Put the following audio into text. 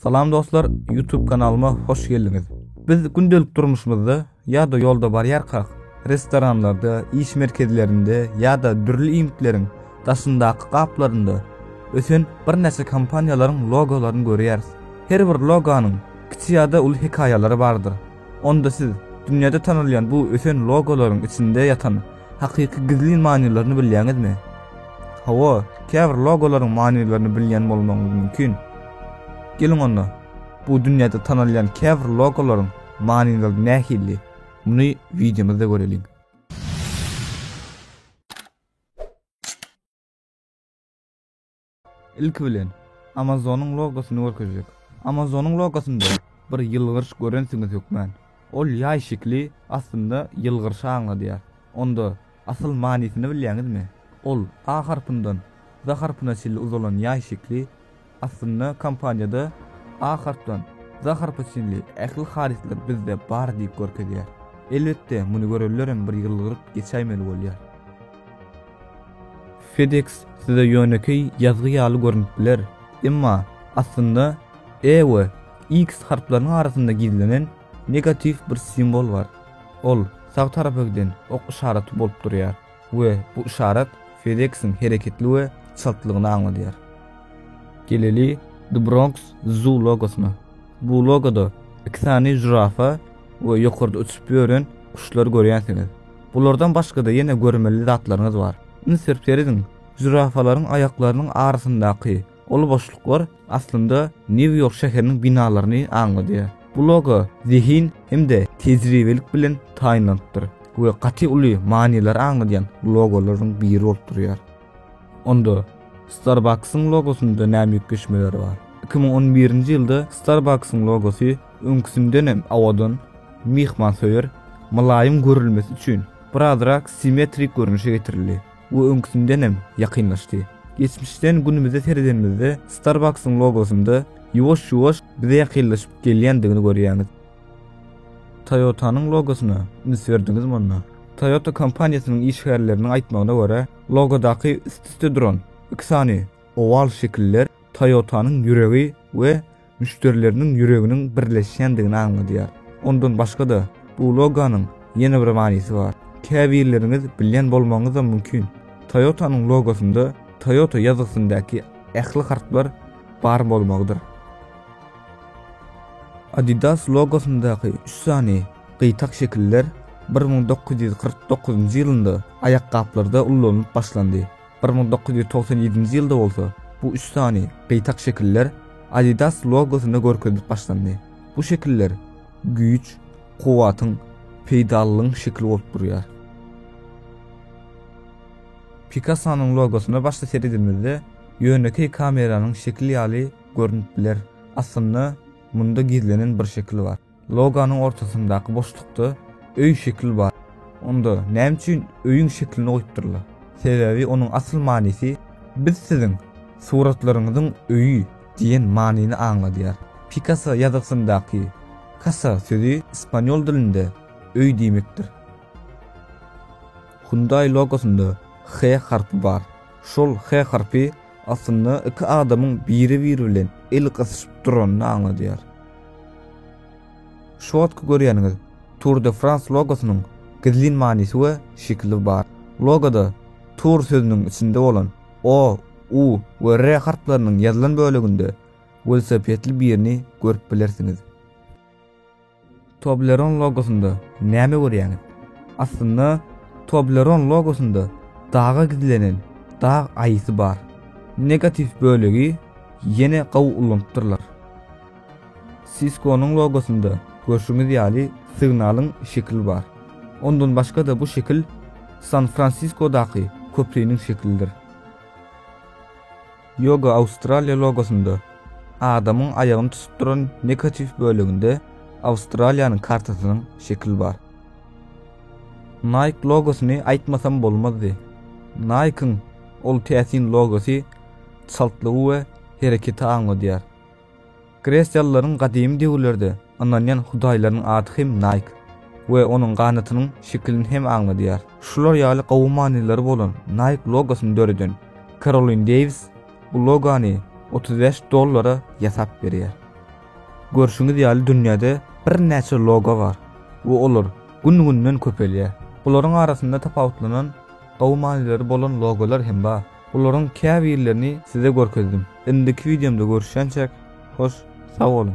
Salam dostlar, YouTube kanalyma hoş geldiňiz. Biz gündelik durmuşymyzda ýa-da ýolda barýarkak, restoranlarda, iş merkezlerinde ýa-da dürli iýmitleriň daşyndaky gaplarynda ösen birnäçe kompaniýalaryň logolaryny görýäris. Her bir logonyň kiçi ýa-da uly hekaýalary bardyr. Onda siz dünýäde tanalýan bu ösen logolaryň içinde ýatan hakyky gizlin manylaryny bilýäňizmi? Hawa, käbir logolaryň manylaryny bilýän bolmagyňyz mümkin. Geliň onda, bu dünýäde tanalýan käbir logolaryň manylary nähili, muny wideomyzda göreliň. Ilki bilen, Amazonyň logosyny görkezjek. Amazonyň logosynda bir ýylgyryş görensiňiz hökman. Ol ýaý şekli aslynda ýylgyryşy aňladýar. Onda asyl manysyny bilýäňizmi? Ol A harpyndan Z harpyna çenli uzalan ýaý şekli aslynda kompaniýada A harpdan Z harpa çenli ähli harytlar bizde bar diýip görkezýär. Elbetde, muny görenlerem bir ýylgyryp geçäýmeli bolýar. FedEx size ýönekeý ýazgy ýaly görnüp biler, emma aslynda E we X harplarynyň arasynda gizlenen negatiw bir simwol bar. Ol sag tarapa giden ok yşaraty bolup durýar we bu yşarat FedEx-iň hereketli we çaltlygyny aňladýar. Geleli The Bronx Zoo logosyna. Bu logoda iki sany žirafa we ýokarda uçup ýören guşlary görýänsiňiz. Bulardan başga-da ýene görmeli zatlaryňyz bar. Üns berip serediň, žirafalaryň aýaklarynyň arasyndaky uly boşluklar aslynda Nýu-Ýork şäheriniň binalaryny aňladýar. Bu logo zehin hem-de tejribelik bilen taýynlanypdyr we gaty uly manylary aňladýan logolaryň biri bolup durýar. Onda Starbucks-yň logosynda näme üýtgeşmeler bar? Iki müň on birinji ýylda Starbucks-yň logosy öňküsinden hem awadan, myhmansöýer, mylaýym görülmesi üçin, birazrak simmetrik görnüşe getirildi we öňküsinden hem ýakynlaşdy. Geçmişden günümize seredenimizde Starbucks-yň logosynda ýuwaş-ýuwaş bize ýakynlaşyp gelýändigini görýäňiz. Toyota-nyň logosyna üns berdiňizmi onda? Toyota kompaniýasynyň işgärleriniň aýtmagyna görä, logodaky üst-üste duran iki sany owal şekiller Toyota-nyň ýüregi we müşderileriniň ýüreginiň birleşýändigini aňladýar. Ondan başga-da, bu logonyň ýene bir manysy bar. Käbirleriňiz bilýän bolmagyňyzam mümkin, Toyota-nyň logosynda Toyota ýazgysyndaky ähli harplar bar bolmagydyr. Adidas logosyndaky üç sany gyýtak şekiller bir müň dokuz ýüz kyrk dokuzynjy ýylynda aýakgaplarda ullanylyp başlandy, bir müň dokuz ýüz togsan ýedinji ýylda bolsa bu üç sany gyýtak şekiller Adidas logosynda görkezilip başlandy. Bu şekiller güýç, kuwwatyň, peýdalylygyň şekili bolup durýar. Pikassonyň logosyna başda seredimizde ýönekeý kameranyň şekili ýaly görnüp biler. Aslynda, munda gizlenen bir şekil bar. Logonyň ortasyndaky boşlukda öý şekil bar. Onda näme üçin öýüň şeklini goýupdyrlar? Sebäbi onuň asyl manysy Biz siziň suratlaryňyzyň öýi diýen manyny aňladýar. Pikasso ýazgysyndaky Casa sözi ispaniol dilinde öý diýmekdir. Hyundai logosynda H harpy bar. Şol H harpy aslynda iki adamyň biri-biri bilen el gysyşyp duranyny aňladýar. Şu wagtky görýäniňiz Tour de France logosynyň gizlin manysy we şekili bar. Logoda Tour sözüniň içinde bolan O, U we R harplarynyň ýazylan böleginde welosipedli birini görüp bilersiňiz. Toblerone logosynda näme görýäňiz? Aslynda Toblerone logosynda daga gizlenen dag aýysy bar. Negatiw bölegi ýene gowy ulanypdyrlar. Cisco-nyň logosynda görşüňiz ýaly signalyň şekili bar. Ondan başga-da bu şekil San-Fransiskodaky köpriniň şekilidir. Yoga Australia logosynda adamyň aýagyny tutup duran negatiw böleginde Awstraliýanyň kartasynyň şekili bar. Nike logosyny aýtmasam bolmazdy. Nike-yň ol täsin logosy çaltlygy we hereketi aňladýar. Gresiýalylaryň gadymy döwürlerde ynanýan hudaýlarynyň ady hem Naýk we onuň ganatynyň şekilini hem aňladýar. Şular ýaly gowy manylary bolan Naýk logosyny döreden Karolin Deýwis bu logony otuz bäş dollara ýasap berýär. Görşüňiz ýaly dünýäde birnäçe logo bar we olar gün-günden köpelýär. Bularyň arasynda tapawutlanan gowy manylary bolan logolar hem bar. Bularyň käbirlerini size görkezdim. Indiki wideomda görüşýänçäk, hoş sag boluň!